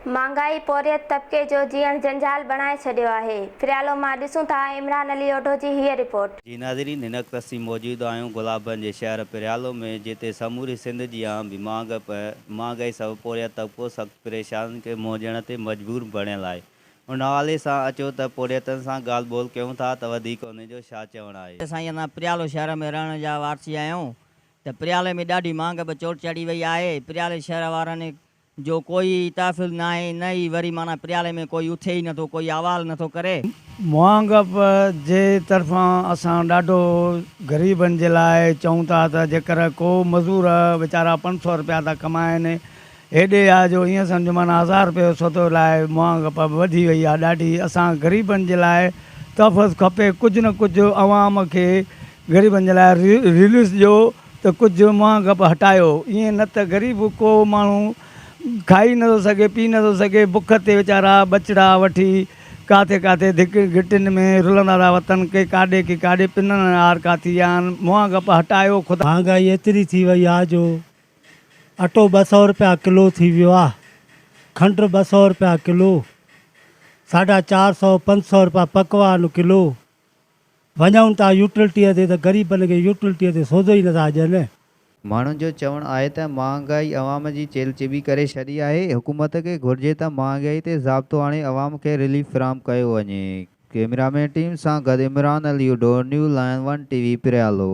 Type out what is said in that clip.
مھانگائي پورھيت طبقي جو جيئڻ جنجال بڻائي ڇڏيو آھي، فريالو مان ڏسون ٿا عمران علي اوڍو جي ھيء رپورٽ. جي ناظرين ھن وقت اسين موجود آھيون گلابن جي شھر پريالو ۾ جتي سموري سنڌ جيان به مھانگپ ۽ مھانگائي سبب پورھيت طبقو سخت پريشانين کي منهن ڏيڻ تي مجبور بڻيل آھي ان حوالي سان اچو ته پورھيتن سان ڳالھ ٻولھ ڪيون ٿا ته وڌيڪ انهن جو ڇا چوڻ آھي. سائين اسان پريالو شهر ۾ رهڻ جا وارثي آهيون ته پريالي ۾ ڏاڍي مھانگپ چوٽ چڙهي وئي آهي پريالي شهر وارن جو ڪوئي ئي تحفظ ناهي، نه ئي وري معنيٰ پريالي ۾ ڪوئي اٿي ئي نٿو، ڪوئي احوال نٿو ڪري. مهانگپ جي طرفان اسان ڏاڍو غريبن جي لاء چئون ٿا ته جيڪر ڪو مزور ويچارا پنج سؤ رپيا ٿا ڪمائين، هيڏي آ جو ائين سمجهه معنيٰ هزار رپيي جو سودو لاء مهانگپ وڌي وئي آ ڏاڍي، اسان غريبن جي لاء تحفظ کپي، ڪجهه نه ڪجهه عوام کي غريبن جي لاء ريليف ڏيو. ته ڪجهه منهن ڳپ هٽايو، ائين نه ته غريب ڪو ماڻهو کائي نه ٿو سگهي، پي نه ٿو سگهي، بک تي ويچارا ٻچڙا وٺي ڪاٿي ڪاٿي ڌڪين گهٽين ۾ رلندا ٿا وتن، ڪي ڪاڏي ڪي ڪاڏي، پنن ۽ آر ڪاٿي آهن، منهن ڳپ هٽايو خدا! مهانگائي ايتري ٿي وئي آ جو اٽو ٻه سئو رپيا ڪلو ٿي ويو آ، کنڊ ٻه سئو رپيا ڪلو، ساڍا چار سئو پنج سئو رپيا پڪوان ڪلو، وڃون ٿا يوٽلٽيء تي ته غريبن کي يوٽلٽيء تي سوڌو ئي نٿا ڏين. ماڻهن جو چوڻ آهي ته مهانگائي عوام جي چيلهچيٻي ڪري ڇڏي آهي، حڪومت کي گهرجي ته مهانگائي تي ضابطو آڻي عوام کي رليف فراهم ڪيو وڃي. ڪيميرا مين ٽيم سان گڏ عمران علي اڊو new line one T V Pryalo.